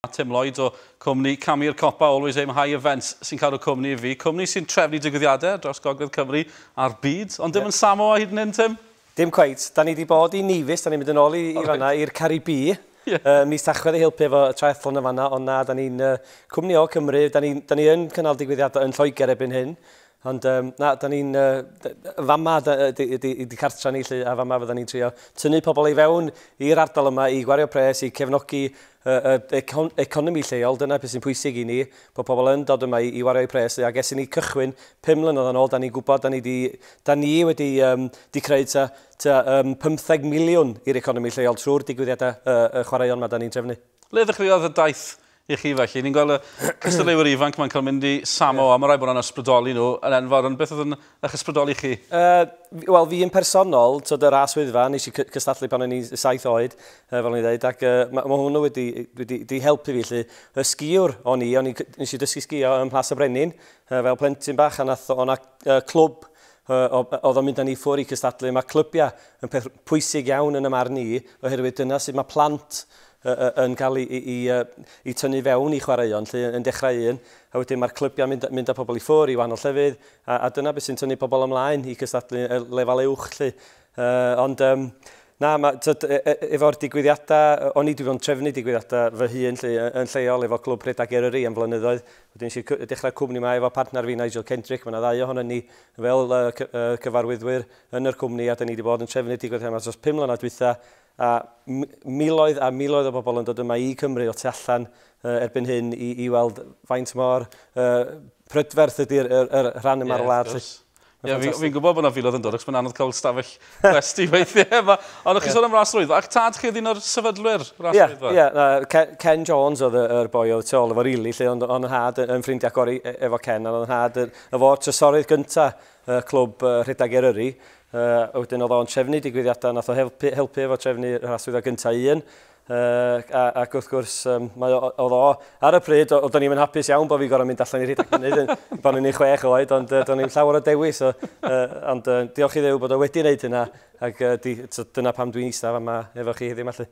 A Tim Lloyd o cwmni Camu'r Copa Always Aim High Events sy'n cadw'r cwmni i fi. Cwmni sy'n trefnu digwyddiadau ar draws Gogledd Cymru a'r byd. Ond dim yn Samoa hyd yn hyn, Tim? Dim cweit. Da ni 'di bod i Nevis, da ni'n mynd yn ôl i fan'na, i'r Caribî, ym mis Tachwedd i helpu efo y triathlon yn fan'na. Ond na, da ni'n cwmni o Cymru, da ni yn cynnal digwyddiadau yn Lloegr erbyn hyn. Ond um, na, da ni'n... Uh, fama ydy, ydy, ydy cartra ni lle, a fama fydda ni'n trio tynnu pobl i fewn i'r ardal yma i gwario pres, i cefnogi uh, econ economi lleol. Dyna beth sy'n pwysig i ni, bod pobl yn dod yma i, i wario i pres. Ac es i ni cychwyn 5 mlynedd yn ôl, da ni'n gwybod, da ni, di, da ni wedi um, di creu ta, ta um, 15 miliwn i'r economi lleol trwy'r digwyddiadau uh, uh, chwaraeon yma da ni'n trefnu. Le ddechreuodd y daith i chi felly. Ni'n gweld y cystadleuwyr ifanc mae'n cael mynd i Samo, yeah. a mae rhaid bod nhw'n ysbrydoli nhw yn enfawr, ond beth oedd yn eich ysbrydoli chi? Uh, Wel, fi yn personol, tyd yr as wyddfa, nes i cystadlu pan o'n i saith oed, uh, fel o'n i dweud, ac uh, mae ma hwnnw wedi, wedi, wedi helpu fi, lle y sgiwr o'n i, o'n i, nes i dysgu sgio ym Mhlas y Brenin, uh, fel plentyn bach, a nath o'na uh, clwb oedd o'n mynd â ni ffwr i cystadlu. Mae clybiau yn peth pwysig iawn yn y marn i, oherwydd dyna sydd mae plant yn cael eu tynnu i fewn i chwaraeon 'lly, yn dechrau un, a wedyn mae'r clybiau'n mynd mynd â pobl i ffwrdd i wahanol llefydd, a a dyna beth sy'n tynnu pobl ymlaen i gystadlu ar lefel uwch 'lly. Ond yym na, mae tibod e- e- efo'r digwyddiadau, o'n i 'di bod yn trefnu digwyddiadau fy hun 'lly yn lleol efo Clwb Rhedeg Eryri am flynyddoedd, wedyn es i c- dechrau'r cwmni 'ma efo partner fi Nigel Kendrick, mae yna ddau ohonon ni fel yy cyfarwyddwyr yn yr cwmni a 'da ni 'di bod yn trefnu digwyddiadau 'ma dros pum mlynedd dwytha, A miloedd a miloedd o bobl yn dod yma i Cymru o tu allan erbyn hyn i, i weld faint mor uh, prydferth ydy'r er, er, rhan yma'r yeah, wlad. Ie, yeah, fi'n fi gwybod bod yna filodd yn dod, ac mae'n anodd cael stafell gwesti weithiau. Ond o'ch chi'n yeah. sôn am rasrwydd, ac tad chi oedd un o'r sefydlwyr rasrwydd? Ie, yeah, yeah, Ken, Ken Jones oedd y, er boi oedd tu ôl efo rili, lle ond o'n nhad yn ffrindiau gori e, efo Ken, ond o'n nhad efo'r trysorydd gyntaf y clwb uh, rhedeg Eryri, Yy, wedyn oedd o'n trefnu digwyddiadau, nath o helpu, helpu efo trefnu rhan swyddfa gyntaf un, uh, a, ac wrth gwrs, um, mae o, oedd o, ar y pryd, oedden ni'n hapus iawn bod fi'n gorau mynd allan i rhedeg mynydd, bod ni'n ei chwech oed, ond uh, do'n ni'n llawer o dewis, so, uh, ond uh, diolch i ddew bod o wedi wneud hynna, ac uh, di, so, dyna pam dwi'n eistaf yma efo chi heddiw mallu.